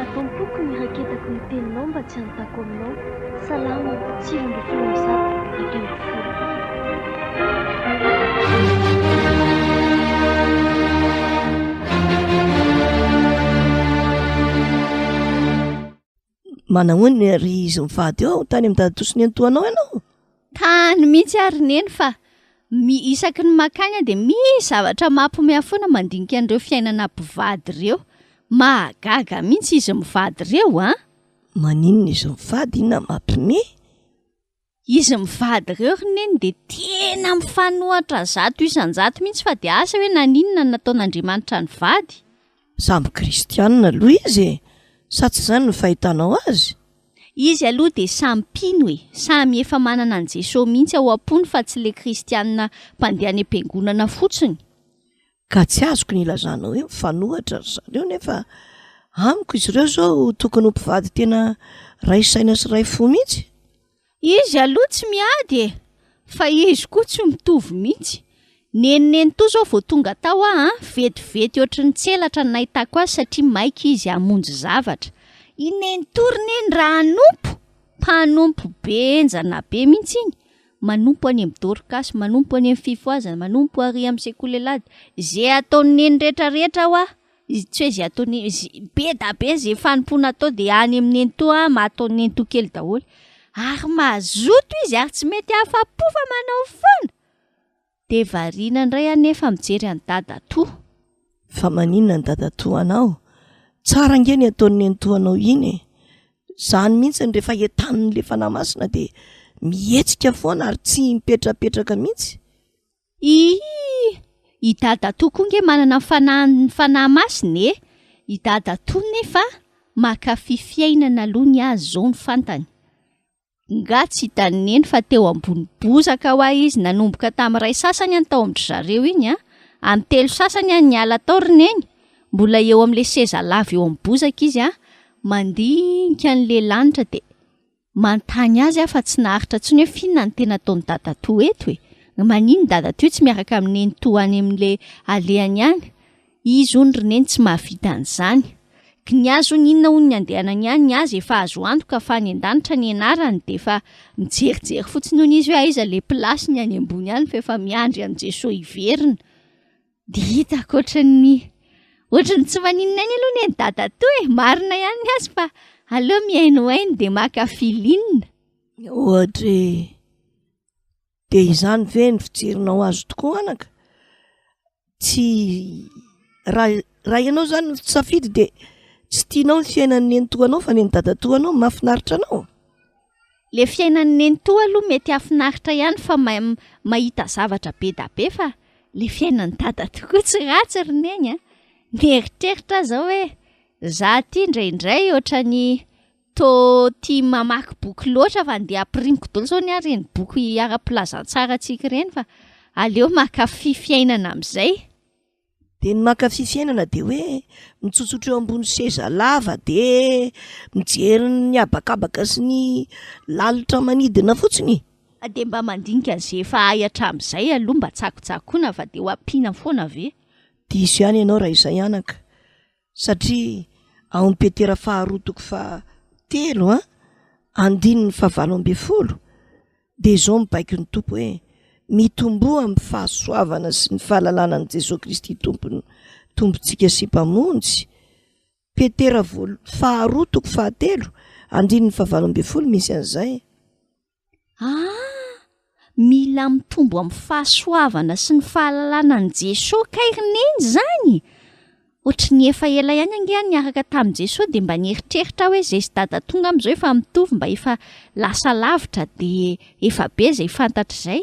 Ato am-poko ny raketako ny teninao mba tsy hanontako aminao, Salamo, sivy ambin'ny folo amby zato, dimy ambin'ny folo. manahoany ry izy mivady eo tany am dadatoso ny antoanao ianao tany mihitsy ary neny fa mi isaky ny makagna de misy zavatra mampomea foana mandinika an'ireo fiainana mpivady ireo mahagaga mihitsy izy mivady ireo a ah. maninona izy mivady inona mampime Izy mivady ireo ry neny dia tena mifanohatra zato isan-jato mihitsy fa dia asa hoe naninona no nataon'Andriamanitra nivady? Samy kristianina aloha izy e! Sa tsy izany no fahitanao azy? Izy aloha dia samy mpino e! Samy efa manana an'i Jesoa mihitsy ao am-pony fa tsy ilay kristianina mpandeha any am-piangonana fotsiny. Ka tsy azoko ny ilazana hoe mifanohitra ry zareo nefa amiko izy ireo izao tokony ho mpivady tena ray saina sy ray fo mihitsy. Izy aloha tsy miady e! Fa izy koa tsy mitovy mihitsy. Nenoneno toa izao vao tonga tao aho an! Vetivety ohatry ny tselatra ny nahitako azy satria maika izy hamonjy zavatra. I Nenitory neny raha hanompo, mpanompo be enjana be mihitsy iny. manompo any am dorcas, manompo any am fifohazana, manompo ary am sekoly alady, ze ataony neny retra retra hoa, tsy hoe ze ataony neny, ze be da be ze fanompoana atao de any am nenitoa am ataony nenitoa kely daholo, ary mazoto izy ary tsy mety afa po fa manao foana. Dia variana indray anefa mijery an'i dadatoa. Fa maninona ny dadatoanao? Tsara ange ny ataon'i nenitoanao iny e! Izany mihitsy ny rehefa entanin'ny le Fanahy Masina dia mihetsika foana ary tsy mipetrapetraka mihitsy. Iiiii! I dadatoa koa ange manana ny Fanahin'ny Fanahy Masina e! I dadatoa nefa mankafy fiainana aloha ny azy izao no fantany. Nga tsy hitan'i Neny fa teo ambony bozaka hoa izy nanomboka tamin'ny iray sasany any tao amin-dry zareo iny an! Amin'ny telo sasany any niala tao ry Neny, mbola eo amin'ilay seza lava eo amin'ny bozaka izy an! Mandinika an'ilay lanitra dia manontany azy aho fa tsy naharitra intsony hoe finona ny tena ataon'i Dadatoa eto e! Manino Dadatoa tsy miaraka amin'i Nenitoa any amin'ilay alehany any? Izy hono ry neny tsy mahavita an'izany. Ky ny azy hono inona hono ny andehanany any, ny azy efa azo antoka fa any an-danitra ny anarany dia efa mijerijery fotsiny hono izy hoe aiza ilay place-ny any ambony any fa efa miandry an'i Jesoa hiverina. Dia hitako ohatran'ny ohatran'ny tsy maninona aina aloha neny dadatoa e! Marina ihany ny azy fa aleo mihainohaino dia maka feeling. Ohatra hoe. Dia izany ve no fijerinao azy tokoa anaka? Tsy raha raha ianao izany no safidy dia tsy tianao ny fiainan'ny nenitoanao fa ny an'i dadatoanao no mahafinaritra anao? Le fiainan'ny nenitoa aloha mety hafinaritra ihany fa mahita zavatra be da be fa le fiainan'ny dada tokoa tsy ratsy ry neny a! Mieritreritra aho izao hoe za ty indraindray ohatran'ny Toa tia mamaky boky loatra fa ndeha ampirimiko daholo izao ny ahy ireny boky ara-pilazantsara antsika ireny fa aleo mankafy fiainana amin'izay. Dia ny mankafy fiainana dia hoe mitsotsotra eo ambony seza lava dia mijery ny habakabaka sy ny lalitra manidina fotsiny. Ah, dia mba mandinika an'izay efa hay hatramin'izay aloha mba tsakotsakoina fa dia ho ampiana foana ve? Diso ihany ianao raha izay anaka. Satria ao amin'ny Petera faharoa toko faha telo an, andininy faha valo ambin'ny folo dia izao mibaiko ny Tompo hoe Mitomboa amin'ny fahasoavana sy ny fahalalana an'i Jesoa Kristy Tompony Tompontsika sy Mpamonjy. Petera voalo, faharoa toko faha telo, andininy faha valo ambin'ny folo misy an'izay. Ah! Mila mitombo amin'ny fahasoavana sy ny fahalalana an'i Jesoa kay ry Neny izany! Hoatry ny efa ela ihany ange aho niaraka tamin'i Jesoa dia mba nieritreritra aho hoe izay sy Dada tonga amin'izao efa mitovy mba efa lasa lavitra dia efa be izay fantatra izay.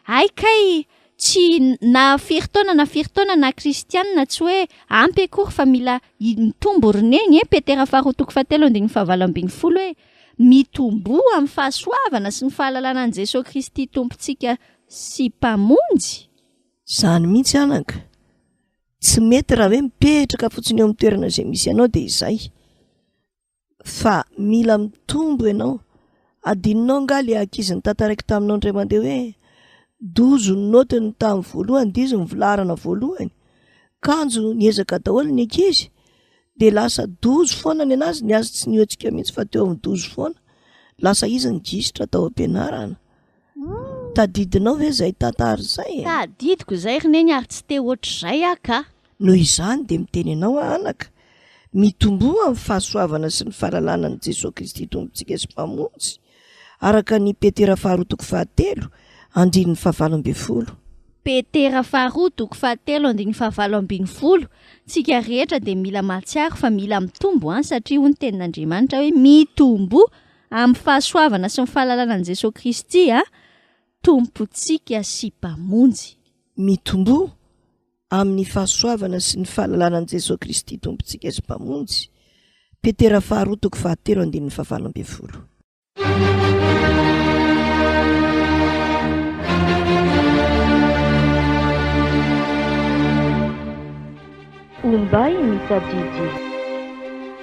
Hay kay! Tsy na firy taona na firy taona na kristiana tsy hoe ampy akory fa mila i- mitombo ry Neny e! Petera faharoa toko fahatelo andininy fahavalo ambin'ny folo hoe. Mitomboa amin'ny fahasoavana sy ny fahalalana an'i Jesoa Kristy Tompontsika sy Mpamonjy? Izany mihitsy anaka. Tsy mety raha hoe mipetraka fotsiny eo amin'ny toerana izay misy anao dia izay. Fa mila mitombo ianao. Adinonao angaha ilay ankizy nitantaraiko taminao indray mandeha hoe dozo ny note ny tamin'ny voalohany, dizo ny filaharana voalohany. Kanjo niezaka daholo ny ankizy dia lasa dozy foana ny anazy ny azy tsy niohetsika mihitsy fa teo amin'ny dozy foana lasa izy ny gisitra tao am-pianarana hmm. tadidinao ve zay tantara izay e? tadidiko izay ry neny ary tsy te ohatr'izay ah ka noho izany dia miteny anao ahanaka mitomboa amin'ny fahasoavana sy ny fahalalana ny jesosy kristy tompontsika sy mpamonjy araka ny Petera faharoa toko fahatelo andininy fahavalo ambin'ny folo. Petera faharoa toko fahatelo andininy fahavalo ambin'ny folo, Tsika rehetra dia mila mahatsiaro fa mila mitombo an, satria hoy ny tenin'Andriamanitra hoe mitomboa amin'ny fahasoavana sy ny fahalalana an'i Jesoa Kristy an, Tompontsika sy Mpamonjy. Mitomboa amin'ny fahasoavana sy ny fahalalana an'i Jesoa Kristy Tompontsika sy Mpamonjy, Petera faharoa toko fahatelo andininy fahavalo ambin'ny folo. Ombay ny tadidy.